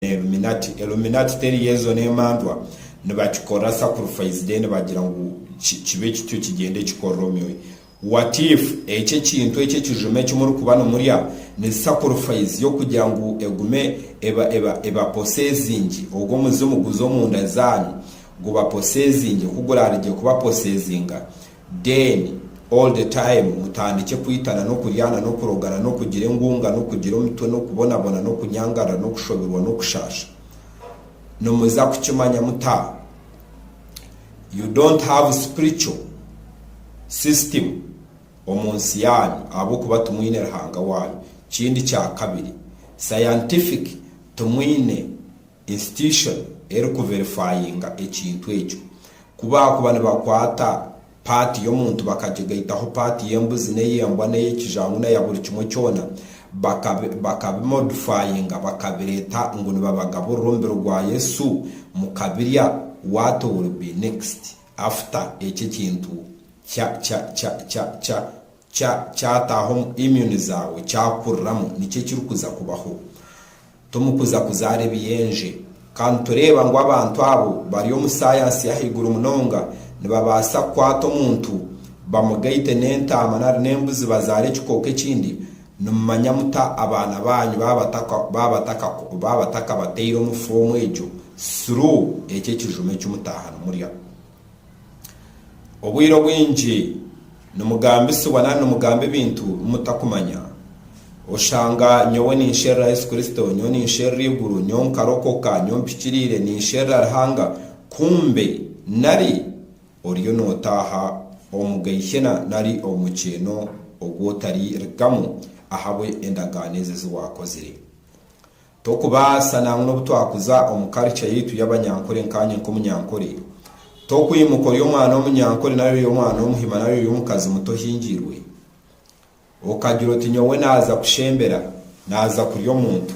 Illuminati, Illuminati teri Yezo n'emandwa, nibakikora sacrifice then bagira ngu ki, kibe kityo kigyende kikorre omyoyo. What if eki ekintu eki ekijuma eki muri kuba nimurya ni sacrifice y'okugira ngu egume eba, eba, eba possessingye, ogwo omuzimu guze omunda zanyu guba possessingye ku gurarigye kuba possesinga? Then all the time mutandikye kwitana n'okuryana n'okurogana n'okugira engunga n'okugira omitwe n'okubonabona n'okunyangarira n'okushoberwa n'okushaasha. Nimuza kukimanya muta? You don't have spiritual system omu nsi yaanyu ahabw'okuba timwine Ruhanga waanyu. Kindi kya kabiri, scientific timwine. institution eri ku verifyinga ekintu ekyo. Ku baakuba nibakwata part y'omuntu bakagigaitaho part y'embuzi n'ey'embwa n'ey'ekijangu na ya buri kimwe kyona, bakabi bakabimodifyinga bakabireeta ngu nibabagaburira omubiri gwa Yesu mukabirya, what will be next after ekyo ekintu kya kya kya kya kya Kya kyataaha omu immune zaawe kyakuriramu nikyo ekirikuza kubaho. Tomukuza kuzaara ebiyenje. Ka nitureeba ngu abantu abo bari omu saayansi y'ahaiguru munonga nibabaasa kukwata omuntu bamugaite n'entaama nari n'embuzi bazaare ekikooko ekindi, nimumanya muta abaana baanyu baaba bataka baaba batakabateire omu foomu egyo? Sru ekyo ekijuma eki mutaaha nimurya. Obwire obwingi nimugambisibwa nari nimugamba ebintu bi mutakumanya. Oshanga nyowe ninsherura Yesu Kristo, nyowe ninsherura eiguru, nyowe nkarokoka, nyowe mpikiriire, ninsherura Ruhanga, kumbe nari oriyo nootaaha omu Geihena nari omu mukyeeno ogu otari rigamu ahabwe endagaano ezi ezi waakozire. Tokubaasa nangwa n'obu twakuza omu culture yaitu y'abanyankore nkaanye nk'omunyankore, tokwimuka ori omwana w'omunyankore nari ori omwana w'omuhima nari ori omukazi muto ohingiirwe, okagira oti nyowe naaza kushembera, naaza kurya omuntu,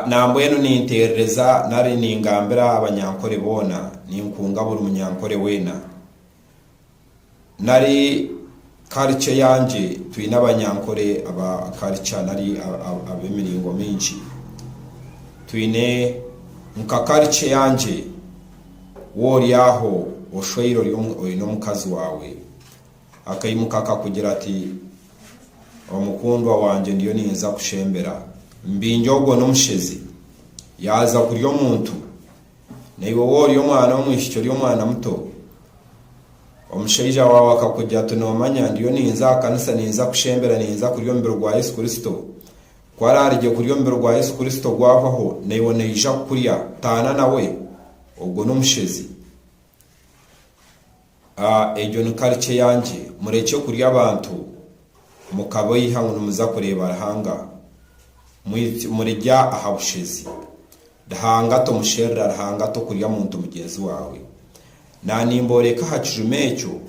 nambwenu ninteerereza nari ningambira abanyankore boona, ninkunga buri munyankore weena. nari karica eyangye, twine abanyankore aba karica nari ab'emiringo mingi. Twine nka karica eyangye, wowe ori aho oshweire oine omukazi waawe, akaimuka akakugira ati, Omukundwa wangye ndiyo ninza kushembera. Mbingye ogwo n'omushezi. Yaaza kurya omuntu, Naiwe ou ori omwana w'omwishiki ori omwana muto, omushaija waawe akakugira ati, Noomanya, ndiyo ninza aha kanisa, ninza kushembera, ninza kurya omubiri gwa Yesu Kristo. Ku araarigye kurya omubiri gwa Yesu Kristo gwahwaho, naiwe naija kukurya, taana nawe? Ogwo n'omushezi. Aah egyo ni culture yangye. Murekye kurya abantu mukabaiha ngu nimuza kureeba Ruhanga. Murirya aha bushezi. Ruhanga tomusherura, Ruhanga tokurya muntu mugyenzi waawe. Naanimbooreka aha kijuma ekyo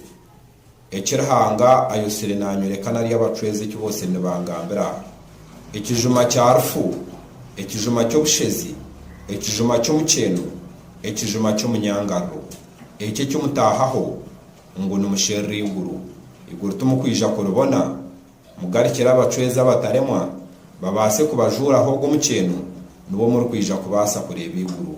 eki Ruhanga ayotsire naanyoreka nari abacwezi eki bootsire nibangambira aha ekijuma kya rufu, ekijuma ky'obushezi, ekijuma ky'omukyeeno, ekijuma ky'omunyangariro. Ekyo eki mutaahaho ngu nimusherura eiguru, eiguru timukwija kuribona, mugarukire abacwezi abataremwa babaase kubajuuraho ogwo mukyeeno, nibwo murikwija kubaasa kureeba eiguru.